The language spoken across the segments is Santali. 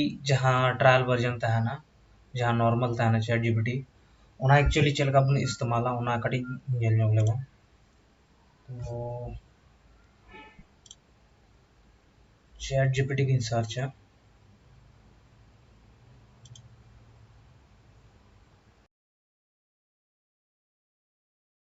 ᱤ ᱡᱟᱦᱟᱸ ᱴᱨᱟᱭᱟᱞ ᱵᱷᱟᱨᱡᱚᱱ ᱛᱟᱦᱮᱱᱟ ᱡᱟᱦᱟᱸ ᱱᱚᱨᱢᱟᱞ ᱛᱟᱦᱮᱱᱟ ᱪᱮᱴ ᱡᱤᱯᱤᱴᱤ ᱚᱱᱟ ᱮᱠᱪᱩᱭᱮᱞᱤ ᱪᱮᱫ ᱞᱮᱠᱟ ᱵᱚᱱ ᱤᱥᱛᱮᱢᱟᱞᱟ ᱚᱱᱟ ᱠᱟᱹᱴᱤᱡ ᱧᱮᱞ ᱧᱚᱜᱽ ᱞᱮᱵᱚᱱ ᱛᱚ ᱪᱮᱴ ᱡᱤᱯᱤᱴᱤ ᱜᱤᱧ ᱥᱟᱨᱪᱟ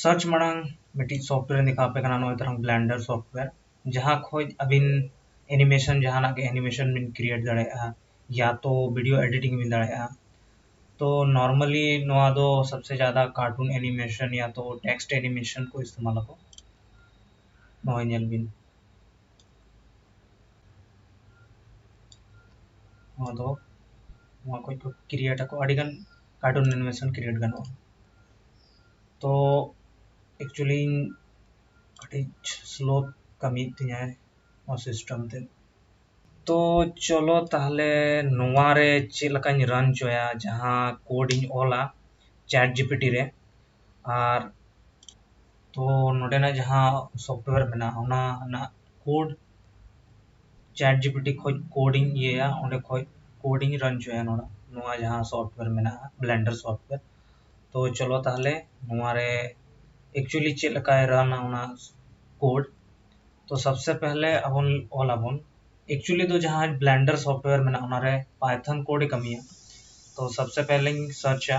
ᱥᱟᱨᱪ ᱢᱟᱲᱟᱝ ᱢᱤᱫᱴᱤᱡ ᱥᱚᱯᱷᱴᱣᱮᱭᱟᱨ ᱫᱮᱠᱷᱟᱣ ᱟᱯᱮ ᱠᱟᱱᱟ ᱱᱚᱜᱼᱚᱭ ᱛᱟᱨᱟᱝ ᱵᱞᱮᱱᱰᱟᱨ ᱥᱚᱯᱷᱴᱣᱮᱭᱟᱨ ᱡᱟᱦᱟᱸ ᱠᱷᱚᱡ ᱟᱹᱵᱤᱱ ᱮᱱᱤᱢᱮᱥᱚᱱ ᱡᱟᱦᱟᱱᱟᱜ ᱜᱮ ᱮᱱᱤᱢᱮᱥᱚᱱ ᱵᱤᱱ ᱠᱨᱤᱭᱮᱴ ᱫᱟᱲᱮᱭᱟᱜᱼᱟ ᱭᱟ ᱛᱚ ᱵᱷᱤᱰᱤᱭᱳ ᱮᱰᱤᱴᱤᱝ ᱵᱤᱱ ᱫᱟᱲᱮᱭᱟᱜᱼᱟ ᱛᱚ ᱱᱚᱨᱢᱟᱞᱤ ᱱᱚᱣᱟ ᱫᱚ ᱥᱚᱵᱥᱮ ᱡᱟᱫᱟ ᱠᱟᱨᱴᱩᱱ ᱮᱱᱤᱢᱮᱥᱚᱱ ᱭᱟ ᱛᱚ ᱴᱮᱠᱥᱴ ᱮᱱᱤᱢᱮᱥᱚᱱ ᱠᱚ ᱤᱥᱛᱮᱢᱟᱞ ᱟᱠᱚ ᱱᱚᱜᱼᱚᱭ ᱧᱮᱞ ᱵᱤᱱ ᱱᱚᱣᱟ ᱫᱚ ᱱᱚᱣᱟ ᱠᱷᱚᱡ ᱠᱚ ᱠᱨᱤᱭᱮᱴ ᱟᱠᱚ ᱟᱹᱰᱤᱜᱟᱱ ᱠᱟᱨᱴᱩᱱ ᱮᱱᱤᱢᱮᱥᱚᱱ ᱠᱨᱤᱭᱮᱴ ᱜᱟᱱᱚᱜᱼᱟ ᱛᱚ ᱮᱠᱪᱩᱭᱮᱞᱤ ᱤᱧ ᱠᱟᱹᱴᱤᱡ ᱥᱞᱳ ᱠᱟᱹᱢᱤᱭᱮᱫ ᱛᱤᱧᱟᱹᱭ ᱱᱚᱣᱟ ᱥᱤᱥᱴᱮᱢ ᱛᱮ ᱛᱚ ᱪᱚᱞᱚ ᱛᱟᱦᱚᱞᱮ ᱱᱚᱣᱟᱨᱮ ᱪᱮᱫ ᱞᱮᱠᱟᱧ ᱨᱟᱱ ᱦᱚᱪᱚᱭᱟ ᱡᱟᱦᱟᱸ ᱠᱳᱰ ᱤᱧ ᱚᱞᱟ ᱪᱮᱴ ᱡᱤᱯᱤᱴᱤ ᱨᱮ ᱟᱨ ᱛᱚ ᱱᱚᱸᱰᱮᱱᱟᱜ ᱡᱟᱦᱟᱸ ᱥᱚᱯᱷᱴᱣᱮᱨ ᱢᱮᱱᱟᱜᱼᱟ ᱚᱱᱟ ᱨᱮᱱᱟᱜ code chat G P T ᱠᱷᱚᱱ ᱠᱳᱰ ᱤᱧ ᱤᱭᱟᱹᱭᱟ ᱚᱸᱰᱮ ᱠᱷᱚᱱ ᱠᱳᱰ ᱤᱧ ᱨᱟᱱ ᱦᱚᱪᱚᱭᱟ ᱱᱚᱸᱰᱮ ᱱᱚᱣᱟ ᱡᱟᱦᱟᱸ ᱥᱚᱯᱷᱴᱣᱮᱨ ᱢᱮᱱᱟᱜᱼᱟ ᱵᱞᱮᱱᱰᱟᱨ ᱥᱚᱯᱷᱴᱣᱮᱨ ᱛᱚ ᱪᱚᱞᱚ ᱛᱟᱦᱚᱞᱮ ᱱᱚᱣᱟ ᱨᱮ ᱮᱠᱪᱩᱭᱮᱞᱤ ᱪᱮᱫ ᱞᱮᱠᱟᱭ ᱨᱟᱱᱟ ᱚᱱᱟ ᱠᱳᱰ ᱛᱚ ᱥᱚᱵᱽ ᱥᱮ ᱯᱮᱦᱞᱮ ᱟᱵᱚ ᱚᱞ ᱟᱵᱚᱱ ᱮᱠᱪᱩᱭᱮᱞᱤ ᱫᱚ ᱡᱟᱦᱟᱸ ᱵᱞᱮᱱᱰᱟᱨ ᱥᱚᱯᱷᱴᱣᱮᱨ ᱢᱮᱱᱟᱜᱼᱟ ᱚᱱᱟ ᱨᱮ ᱯᱟᱭᱛᱷᱚᱱ ᱠᱳᱰ ᱮ ᱠᱟᱹᱢᱤᱭᱟ ᱛᱚ ᱥᱚᱵᱽ ᱥᱮ ᱯᱮᱦᱞᱮᱧ ᱥᱟᱨᱪᱟ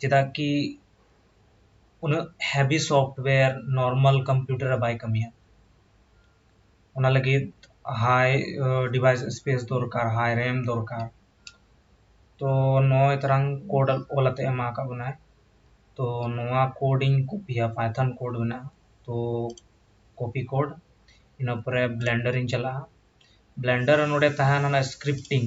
ᱪᱮᱫᱟᱜ ᱠᱤ ᱩᱱᱟᱹᱜ ᱦᱮᱵᱷᱤ ᱥᱚᱯᱷᱴᱣᱮᱨ ᱱᱚᱨᱢᱟᱞ ᱠᱚᱢᱯᱤᱭᱩᱴᱟᱨ ᱨᱮ ᱵᱟᱭ ᱠᱟᱹᱢᱤᱭᱟ ᱚᱱᱟ ᱞᱟᱹᱜᱤᱫ ᱦᱟᱭ ᱰᱤᱵᱷᱟᱭᱤᱥ ᱥᱯᱮᱥ ᱫᱚᱨᱠᱟᱨ ᱦᱟᱭ ᱨᱮᱢ ᱫᱚᱨᱠᱟᱨ ᱛᱚ ᱱᱚᱜᱼᱚᱭ ᱛᱟᱨᱟᱝ ᱠᱳᱰ ᱚᱞ ᱠᱟᱛᱮᱫ ᱮᱢᱟ ᱟᱠᱟᱫ ᱵᱚᱱᱟᱭ ᱛᱚ ᱱᱚᱣᱟ ᱠᱳᱰ ᱤᱧ ᱠᱚᱯᱤᱭᱟ ᱯᱟᱭᱛᱷᱚᱱ ᱠᱳᱰ ᱢᱮᱱᱟᱜᱼᱟ ᱛᱚ ᱠᱚᱯᱤ ᱠᱳᱰ ᱤᱱᱟᱹ ᱯᱚᱨᱮ ᱵᱞᱮᱱᱰᱟᱨᱤᱧ ᱪᱟᱞᱟᱜᱼᱟ ᱵᱞᱮᱱᱰᱟᱨ ᱱᱚᱸᱰᱮ ᱛᱟᱦᱮᱱᱟ ᱚᱱᱟ ᱥᱠᱨᱤᱯᱴᱤᱝ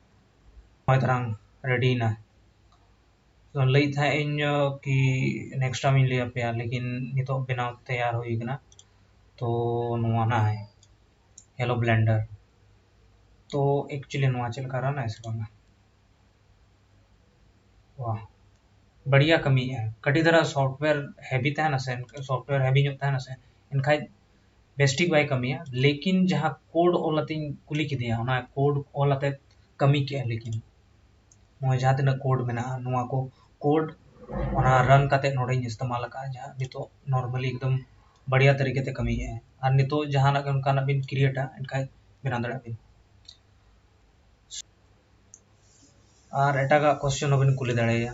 ᱢᱟᱛᱨᱟᱝ ᱨᱮᱰᱤᱭᱮᱱᱟ ᱞᱟᱹᱭᱮᱫ ᱛᱟᱦᱮᱸᱫ ᱤᱧ ᱠᱤ ᱱᱮᱠᱥᱴ ᱴᱟᱭᱤᱢ ᱤᱧ ᱞᱟᱹᱭ ᱟᱯᱮᱭᱟ ᱞᱮᱠᱤᱱ ᱱᱤᱛᱚᱜ ᱵᱮᱱᱟᱣ ᱛᱮᱭᱟᱨ ᱦᱩᱭ ᱟᱠᱟᱱᱟ ᱛᱚ ᱱᱚᱣᱟ ᱱᱟᱜ ᱦᱮᱞᱳ ᱵᱞᱮᱱᱰᱟᱨ ᱛᱚ ᱮᱠᱪᱩᱭᱮᱞᱤ ᱱᱚᱣᱟ ᱪᱮᱫ ᱞᱮᱠᱟ ᱨᱟᱱ ᱟᱭ ᱥᱮ ᱵᱟᱝᱟ ᱣᱟᱦ ᱵᱟᱹᱲᱤᱭᱟ ᱠᱟᱹᱢᱤᱭᱮᱫᱼᱟᱭ ᱠᱟᱹᱴᱤᱡ ᱫᱷᱟᱨᱟ ᱥᱚᱯᱷᱴᱣᱮᱨ ᱦᱮᱵᱷᱤ ᱛᱟᱦᱮᱱᱟ ᱥᱮ ᱥᱚᱯᱷᱴᱣᱮᱨ ᱦᱮᱵᱷᱤ ᱧᱚᱜ ᱛᱟᱦᱮᱱᱟ ᱥᱮ ᱮᱱᱠᱷᱟᱱ ᱵᱮᱥᱴᱷᱤᱠ ᱵᱟᱭ ᱠᱟᱹᱢᱤᱭᱟ ᱞᱮᱠᱤᱱ ᱡᱟᱦᱟᱸ ᱠᱳᱰ ᱚᱞ ᱟᱛᱮᱧ ᱠᱩᱞᱤ ᱠᱮᱫᱮᱭᱟ ᱚᱱᱟ ᱠᱳᱰ ᱚᱞ ᱟᱛᱮ ᱠᱟᱹᱢᱤ ᱠᱮᱫᱼᱟ ᱞᱮᱠᱤᱱ ᱱᱚᱜᱼᱚᱭ ᱡᱟᱦᱟᱸ ᱛᱤᱱᱟᱹᱜ ᱠᱳᱰ ᱢᱮᱱᱟᱜᱼᱟ ᱱᱚᱣᱟ ᱠᱚ ᱠᱳᱰ ᱚᱱᱟ ᱨᱟᱱ ᱠᱟᱛᱮ ᱱᱚᱰᱮᱧ ᱤᱥᱛᱮᱢᱟᱞ ᱟᱠᱟᱫᱼᱟ ᱡᱟᱦᱟᱸ ᱱᱤᱛᱚᱜ ᱱᱚᱨᱢᱟᱞᱤ ᱮᱠᱫᱚᱢ ᱵᱟᱲᱤᱭᱟ ᱛᱟᱹᱨᱤᱠᱟ ᱛᱮ ᱠᱟᱹᱢᱤᱭᱮᱫᱼᱟᱭ ᱟᱨ ᱱᱤᱛᱚᱜ ᱡᱟᱦᱟᱱᱟᱜ ᱜᱮ ᱚᱱᱠᱟᱱᱟᱜ ᱵᱤᱱ ᱠᱨᱤᱭᱮᱴᱟ ᱮᱱᱠᱷᱟᱱ ᱵᱮᱱᱟᱣ ᱫᱟᱲᱮᱭᱟᱜ ᱵᱤᱱ ᱟᱨ ᱮᱴᱟᱜᱟᱜ ᱠᱚᱥᱪᱮᱱ ᱦᱚᱸᱵᱤᱱ ᱠᱩᱞᱤ ᱫᱟᱲᱮᱭᱟᱭᱟ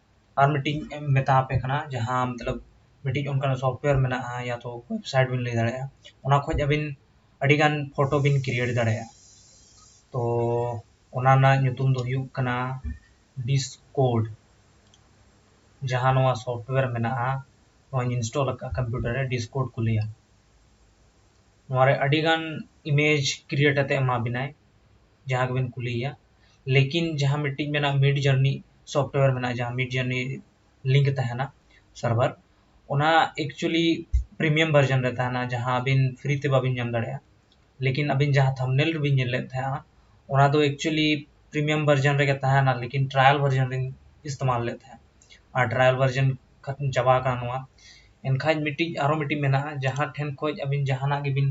ᱟᱨ ᱢᱤᱫᱴᱤᱡ ᱤᱧ ᱢᱮᱛᱟ ᱟᱯᱮ ᱠᱟᱱᱟ ᱡᱟᱦᱟᱸ ᱢᱚᱛᱞᱚᱵ ᱢᱤᱫᱴᱤᱡ ᱚᱱᱠᱟᱱᱟᱜ ᱥᱚᱯᱷᱴᱣᱮᱨ ᱢᱮᱱᱟᱜᱼᱟ ᱭᱟ ᱛᱚ ᱳᱭᱮᱵᱽᱥᱟᱭᱤᱴ ᱵᱤᱱ ᱞᱟᱹᱭ ᱫᱟᱲᱮᱭᱟᱜᱼᱟ ᱚᱱᱟ ᱠᱷᱚᱱ ᱟᱹᱵᱤᱱ ᱟᱹᱰᱤ ᱜᱟᱱ ᱯᱷᱳᱴᱳ ᱵᱤᱱ ᱠᱨᱤᱭᱮᱴ ᱫᱟᱲᱮᱭᱟᱜᱼᱟ ᱛᱚ ᱚᱱᱟ ᱨᱮᱱᱟᱜ ᱧᱩᱛᱩᱢ ᱫᱚ ᱦᱩᱭᱩᱜ ᱠᱟᱱᱟ ᱰᱤᱥᱠᱳᱰ ᱡᱟᱦᱟᱸ ᱱᱚᱣᱟ ᱥᱚᱯᱷᱴᱣᱮᱨ ᱢᱮᱱᱟᱜᱼᱟ ᱱᱚᱣᱟᱧ ᱤᱱᱥᱴᱚᱞ ᱟᱠᱟᱫᱼᱟ ᱠᱚᱢᱯᱤᱭᱩᱴᱟᱨ ᱨᱮ ᱰᱤᱥᱠᱳᱰ ᱠᱚ ᱞᱟᱹᱭᱟ ᱱᱚᱣᱟ ᱨᱮ ᱟᱹᱰᱤ ᱜᱟᱱ ᱤᱢᱮᱡᱽ ᱠᱨᱤᱭᱮᱴ ᱠᱟᱛᱮᱫ ᱮᱢᱟ ᱵᱤᱱᱟᱭ ᱡᱟᱦᱟᱸ ᱜᱮᱵᱤᱱ ᱠᱩᱞᱤᱭᱮᱭᱟ ᱞᱮᱠᱤᱱ ᱡᱟᱦᱟᱸ ᱢᱤᱫᱴᱤᱡ ᱢᱮᱱᱟᱜᱼᱟ ᱢᱤᱰ ᱡᱟᱨᱱᱤ ᱥᱚᱯᱷᱴᱣᱮᱨ ᱢᱮᱱᱟᱜᱼᱟ ᱡᱟᱦᱟᱸ ᱢᱤᱰ ᱡᱟᱨᱱᱤ ᱞᱤᱝᱠ ᱛᱟᱦᱮᱱᱟ ᱥᱟᱨᱵᱷᱟᱨ ᱚᱱᱟ ᱮᱠᱪᱩᱭᱮᱞᱤ ᱯᱨᱤᱢᱤᱭᱟᱢ ᱵᱷᱟᱨᱡᱚᱱ ᱨᱮ ᱛᱟᱦᱮᱱᱟ ᱡᱟᱦᱟᱸ ᱟᱹᱵᱤᱱ ᱯᱷᱨᱤ ᱛᱮ ᱵᱟᱹᱵᱤᱱ ᱧᱟᱢ ᱫᱟᱲᱮᱭᱟᱜᱼᱟ ᱞᱮᱠᱤᱱ ᱟᱹᱵᱤᱱ ᱡᱟᱦᱟᱸ ᱛᱷᱟᱢᱵᱽᱱᱮᱞ ᱨᱮᱵᱤᱱ ᱧᱮᱞ ᱞᱮᱫ ᱛᱟᱦᱮᱱᱟ ᱚᱱᱟ ᱫᱚ ᱮᱠᱪᱩᱭᱮᱞᱤ ᱯᱨᱤᱢᱤᱭᱟᱢ ᱵᱷᱟᱨᱡᱚᱱ ᱨᱮᱜᱮ ᱛᱟᱦᱮᱱᱟ ᱞᱮᱠᱤᱱ ᱴᱨᱟᱭᱟᱞ ᱵᱷᱟᱨᱡᱚᱱ ᱨᱤᱧ ᱤᱥᱛᱮᱢᱟᱞ ᱞᱮᱫ ᱛᱟᱦᱮᱸᱫ ᱟᱨ ᱴᱨᱟᱭᱟᱞ ᱵᱷᱟᱨᱡᱚᱱ ᱠᱷᱟᱛᱢ ᱪᱟᱵᱟ ᱟᱠᱟᱱᱟ ᱱᱚᱣᱟ ᱮᱱᱠᱷᱟᱱ ᱢᱤᱫᱴᱤᱡ ᱟᱨᱚ ᱢᱤᱫᱴᱤᱡ ᱢᱮᱱᱟᱜᱼᱟ ᱡᱟᱦᱟᱸ ᱴᱷᱮᱱ ᱠᱷᱚᱱ ᱟᱹᱵᱤᱱ ᱡᱟᱦᱟᱱᱟᱜ ᱜᱮᱵᱤᱱ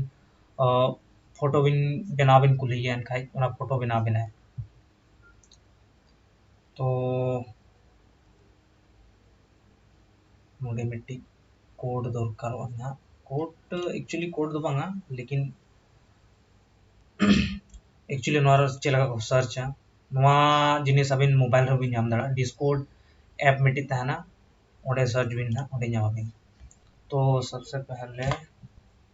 ᱯᱷᱳᱴᱳ ᱵᱤᱱ ᱵᱮᱱᱟᱣ ᱵᱤᱱ ᱠᱩᱞᱤᱭᱮᱭᱟ ᱮᱱᱠᱷᱟᱱ ᱚᱱᱟ ᱯᱷᱳᱴᱳ ᱵᱮᱱᱟᱣ ᱟᱵᱤᱱᱟᱭ ᱛᱚ ᱱᱚᱰᱮ ᱢᱤᱫᱴᱤᱡ ᱠᱳᱰ ᱫᱚᱨᱠᱟᱨᱚᱜᱼᱟ ᱱᱟᱦᱟᱜ ᱠᱳᱰ ᱮᱠᱪᱩᱭᱮᱞᱤ ᱠᱳᱰ ᱫᱚ ᱵᱟᱝᱟ ᱞᱮᱠᱤᱱ ᱮᱠᱪᱩᱭᱮᱞᱤ ᱱᱚᱣᱟ ᱨᱮ ᱪᱮᱫ ᱞᱮᱠᱟ ᱠᱚ ᱥᱟᱨᱪᱟ ᱱᱚᱣᱟ ᱡᱤᱱᱤᱥ ᱟᱵᱤᱱ ᱢᱳᱵᱟᱭᱤᱞ ᱨᱮᱦᱚᱸ ᱵᱤᱱ ᱧᱟᱢ ᱫᱟᱲᱮᱭᱟᱜᱼᱟ ᱰᱤᱥᱠᱳᱰ ᱮᱯ ᱢᱤᱫᱴᱤᱡ ᱛᱟᱦᱮᱱᱟ ᱚᱸᱰᱮ ᱥᱟᱨᱪ ᱵᱤᱱ ᱱᱟᱦᱟᱜ ᱚᱸᱰᱮ ᱧᱟᱢᱟᱵᱤᱱ ᱛᱚ ᱥᱚᱵᱥᱮ ᱯᱮᱦᱞᱮ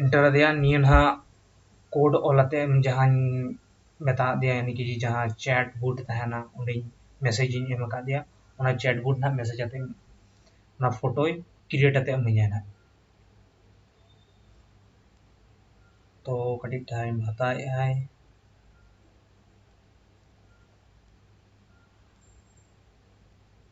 ᱤᱱᱴᱟᱨ ᱟᱫᱮᱭᱟ ᱱᱤᱭᱟᱹ ᱱᱟᱦᱟᱜ ᱠᱳᱰ ᱚᱞ ᱟᱛᱮ ᱡᱟᱦᱟᱧ ᱢᱮᱛᱟ ᱟᱫᱮᱭᱟ ᱭᱟᱱᱤ ᱠᱤ ᱡᱟᱦᱟᱸ ᱪᱮᱴ ᱵᱳᱴ ᱛᱟᱦᱮᱱᱟ ᱚᱸᱰᱮᱧ ᱢᱮᱥᱮᱡᱽ ᱤᱧ ᱮᱢ ᱟᱠᱟᱫᱮᱭᱟ ᱚᱱᱟ ᱪᱮᱴ ᱵᱳᱴ ᱱᱟᱦᱟᱜ ᱢᱮᱥᱮᱡᱽ ᱟᱛᱮ ᱚᱱᱟ ᱯᱷᱳᱴᱳᱭ ᱠᱨᱤᱭᱮᱴ ᱟᱛᱮ ᱤᱢᱟᱹᱧᱟᱭ ᱱᱟᱦᱟᱜ ᱛᱚ ᱠᱟᱹᱴᱤᱡ ᱴᱟᱭᱤᱢ ᱦᱟᱛᱟᱣᱮᱫᱼᱟᱭ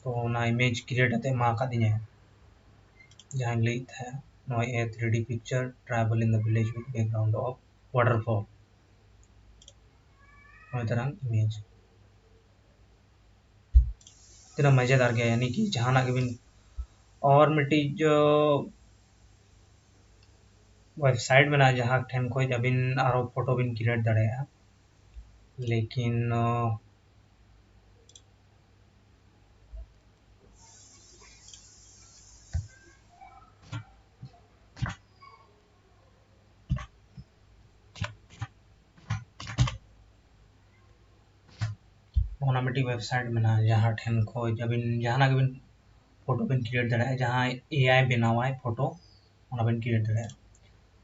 ᱛᱚ ᱚᱱᱟ ᱤᱢᱮᱡᱽ ᱠᱨᱤᱭᱮᱴ ᱠᱟᱛᱮ ᱮᱢᱟ ᱟᱠᱟᱫᱤᱧᱟᱹ ᱡᱟᱦᱟᱸᱧ ᱞᱟᱹᱭᱮᱫ ᱛᱟᱦᱮᱸᱫ ᱱᱚᱣᱟ ᱮ three D picture tribal in the village with background of waterfall ᱱᱚᱜᱼᱚᱭ ᱛᱟᱨᱟᱝ ᱤᱢᱮᱡᱽ ᱛᱤᱱᱟᱹᱜ ᱢᱟᱡᱮᱫᱟᱨ ᱜᱮᱭᱟ ᱭᱟᱱᱤ ᱠᱤ ᱡᱟᱦᱟᱱᱟᱜ ᱜᱮᱵᱤᱱ ᱟᱨ ᱢᱤᱫᱴᱤᱡ ᱣᱮᱵᱥᱟᱭᱤᱴ ᱢᱮᱱᱟᱜᱼᱟ ᱡᱟᱦᱟᱸ ᱴᱷᱮᱱ ᱠᱷᱚᱱ ᱟᱹᱵᱤᱱ ᱟᱨᱚ ᱯᱷᱳᱴᱳ ᱵᱤᱱ ᱠᱨᱤᱭᱮᱴ ᱫᱟᱲᱮᱭᱟᱜᱼᱟ ᱞᱮᱠᱤᱱ ᱚᱱᱟ ᱢᱤᱫᱴᱤᱡ ᱣᱮᱵᱥᱟᱭᱤᱴ ᱢᱮᱱᱟᱜᱼᱟ ᱡᱟᱦᱟᱸ ᱴᱷᱮᱱ ᱠᱷᱚᱡ ᱟᱹᱵᱤᱱ ᱡᱟᱦᱟᱱᱟᱜ ᱜᱮᱵᱤᱱ ᱯᱷᱳᱴᱳ ᱵᱤᱱ ᱠᱨᱤᱭᱮᱴ ᱫᱟᱲᱮᱭᱟᱜᱼᱟ ᱡᱟᱦᱟᱸᱭ ᱮ ᱟᱭ ᱵᱮᱱᱟᱣᱟᱭ ᱯᱷᱳᱴᱳ ᱚᱱᱟ ᱵᱤᱱ ᱠᱨᱤᱭᱮᱴ ᱫᱟᱲᱮᱭᱟᱜᱼᱟ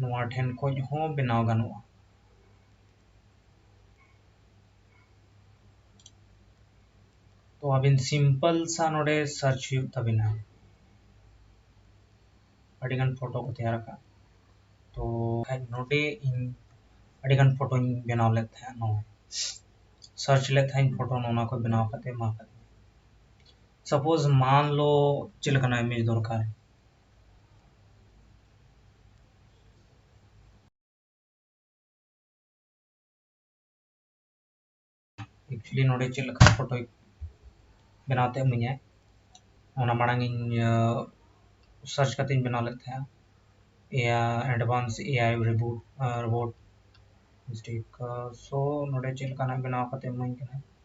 ᱱᱚᱣᱟ ᱴᱷᱮᱱ ᱠᱷᱚᱱ ᱦᱚᱸ ᱵᱮᱱᱟᱣ ᱜᱟᱱᱚᱜᱼᱟ ᱛᱚ ᱟᱹᱵᱤᱱ ᱥᱤᱢᱯᱚᱞ ᱥᱟ ᱱᱚᱰᱮ ᱥᱟᱨᱪ ᱦᱩᱭᱩᱜ ᱛᱟᱵᱤᱱᱟ ᱟᱹᱰᱤᱜᱟᱱ ᱯᱷᱳᱴᱳ ᱠᱚ ᱛᱮᱭᱟᱨ ᱟᱠᱟᱫ ᱛᱚ ᱱᱚᱰᱮ ᱤᱧ ᱟᱹᱰᱤᱜᱟᱱ ᱯᱷᱳᱴᱳᱧ ᱵᱮᱱᱟᱣ ᱞᱮᱫ ᱛᱟᱦᱮᱸᱫ ᱱᱚᱣᱟ ᱥᱟᱨᱪ ᱞᱮᱫ ᱛᱟᱦᱮᱸᱫ ᱯᱷᱳᱴᱳ ᱱᱚᱣᱟ ᱠᱚ ᱵᱮᱱᱟᱣ ᱠᱟᱛᱮ ᱮᱢᱟ ᱠᱟᱫ ᱥᱟᱯᱳᱡᱽ ᱢᱟᱱ ᱞᱚ ᱪᱮᱫ ᱞᱮᱠᱟᱱᱟᱜ ᱤᱢᱮᱡᱽ ᱫᱚᱨᱠᱟᱨ ᱮᱠᱪᱩᱭᱮᱞᱤ ᱱᱚᱰᱮ ᱪᱮᱫ ᱞᱮᱠᱟ ᱯᱷᱳᱴᱳᱭ ᱵᱮᱱᱟᱣ ᱛᱮ ᱤᱢᱟᱹᱧᱟᱭ ᱚᱱᱟ ᱢᱟᱲᱟᱝ ᱤᱧ ᱥᱟᱨᱪ ᱠᱟᱛᱮ ᱤᱧ ᱵᱮᱱᱟᱣ ᱞᱮᱫ ᱛᱟᱦᱮᱸᱜᱼᱟ ᱮᱭᱟ ᱮᱰᱵᱷᱟᱱᱥ ᱮᱭᱟᱭ ᱨᱤᱵᱩᱴ ᱨᱳᱵᱳᱴ ᱢᱤᱥᱴᱮᱠ ᱥᱳ ᱱᱚᱰᱮ ᱪᱮᱫ ᱞᱮᱠᱟᱱᱟᱜ ᱵᱮᱱᱟᱣ ᱠᱟᱛᱮ ᱤᱢᱟᱹᱧ ᱠᱟᱱᱟᱭ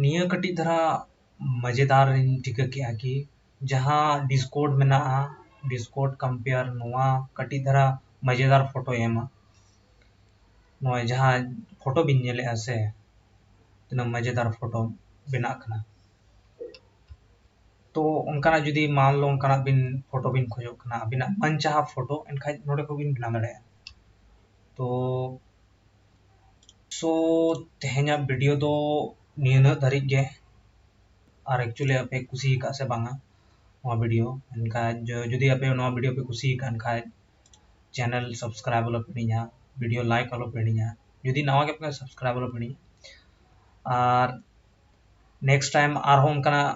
ᱱᱤᱭᱟᱹ ᱠᱟᱹᱴᱤᱡ ᱫᱷᱟᱨᱟ ᱢᱟᱡᱮᱫᱟᱨ ᱤᱧ ᱴᱷᱤᱠᱟᱹ ᱠᱮᱜᱼᱟ ᱠᱤ ᱡᱟᱦᱟᱸ ᱰᱤᱥᱠᱳᱰ ᱢᱮᱱᱟᱜᱼᱟ ᱰᱤᱥᱠᱳᱰ ᱠᱟᱢᱯᱮᱭᱟᱨ ᱱᱚᱣᱟ ᱠᱟᱹᱴᱤᱡ ᱫᱷᱟᱨᱟ ᱢᱟᱡᱮᱫᱟᱨ ᱯᱷᱚᱴᱳᱭ ᱮᱢᱟ ᱱᱚᱜᱼᱚᱭ ᱡᱟᱦᱟᱸ ᱯᱷᱚᱴᱳ ᱵᱤᱱ ᱧᱮᱞᱮᱜᱼᱟ ᱥᱮ ᱛᱤᱱᱟᱹᱜ ᱢᱟᱡᱮᱫᱟᱨ ᱯᱷᱚᱴᱳ ᱵᱮᱱᱟᱜ ᱠᱟᱱᱟ ᱛᱚ ᱚᱱᱠᱟᱱᱟᱜ ᱡᱩᱫᱤ ᱢᱟᱱᱞᱳ ᱚᱱᱠᱟᱱᱟᱜ ᱵᱤᱱ ᱯᱷᱚᱴᱳ ᱵᱤᱱ ᱠᱷᱚᱡᱚᱜ ᱠᱟᱱᱟ ᱟᱵᱤᱱᱟᱜ ᱢᱚᱱ ᱪᱟᱦᱟ ᱯᱷᱚᱴᱳ ᱮᱱᱠᱷᱟᱱ ᱱᱚᱰᱮ ᱠᱷᱚᱱ ᱵᱤᱱ ᱵᱮᱱᱟᱣ ᱫᱟᱲᱮᱭᱟᱜᱼᱟ ᱛᱚ ᱥᱳ ᱛᱮᱦᱮᱧᱟᱜ ᱵᱷᱤᱰᱤᱭᱳ ᱫᱚ ᱱᱤᱱᱟᱹᱜ ᱫᱷᱟᱹᱨᱤᱡ ᱜᱮ ᱟᱨ ᱮᱠᱪᱩᱭᱮᱞᱤ ᱟᱯᱮ ᱠᱩᱥᱤ ᱟᱠᱟᱫᱟ ᱥᱮ ᱵᱟᱝᱟ ᱱᱚᱣᱟ ᱵᱷᱤᱰᱤᱭᱳ ᱮᱱᱠᱷᱟᱱ ᱡᱩᱫᱤ ᱟᱯᱮ ᱱᱚᱣᱟ ᱵᱷᱤᱰᱤᱭᱳ ᱯᱮ ᱠᱩᱥᱤ ᱟᱠᱟᱫ ᱠᱷᱟᱱ ᱪᱮᱱᱮᱞ ᱥᱟᱵᱥᱠᱨᱟᱭᱤᱵᱽ ᱟᱞᱚ ᱯᱮ ᱦᱤᱲᱤᱧᱟ ᱵᱷᱤᱰᱤᱭᱳ ᱞᱟᱭᱤᱠ ᱟᱞᱚ ᱯᱮ ᱦᱤᱲᱤᱧᱟ ᱡᱩᱫᱤ ᱱᱟᱣᱟ ᱜᱮᱯᱮ ᱠᱷᱟᱱ ᱥᱟᱵᱥᱠᱨᱟᱭᱤᱵᱽ ᱟᱞᱚ ᱯᱮ ᱦᱤᱲᱤᱧᱟ ᱟᱨ ᱱᱮᱠᱥᱴ ᱴᱟᱭᱤᱢ ᱟᱨᱦᱚᱸ ᱚᱱᱠᱟᱱᱟᱜ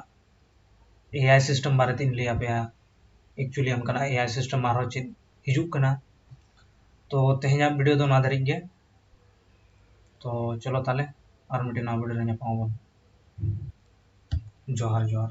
ᱮ ᱟᱭ ᱥᱤᱥᱴᱮᱢ ᱵᱟᱨᱮᱛᱮᱧ ᱞᱟᱹᱭᱟᱯᱮᱭᱟ ᱮᱠᱪᱩᱭᱮᱞᱤ ᱚᱱᱠᱟᱱᱟᱜ ᱮ ᱟᱭ ᱥᱤᱥᱴᱮᱢ ᱟᱨᱦᱚᱸ ᱪᱮᱫ ᱦᱤᱡᱩᱜ ᱠᱟᱱᱟ ᱛᱚ ᱛᱮᱦᱮᱧᱟᱜ ᱵᱷᱤᱰᱤᱭᱳ ᱫᱚ ᱱᱚᱣᱟ ᱫᱷᱟᱹᱨᱤᱡ ᱜᱮ ᱛᱚ ᱪᱚᱞᱚ ᱛᱟᱦᱚᱞᱮ ᱟᱨ ᱢᱤᱫᱴᱮᱱ ᱱᱟᱣᱟ ᱵᱷᱤᱰᱤᱭᱳ ᱨᱮ ᱧᱟᱯᱟᱢ ᱟᱵᱚᱱ ᱡᱚᱦᱟᱨ ᱡᱚᱦᱟᱨ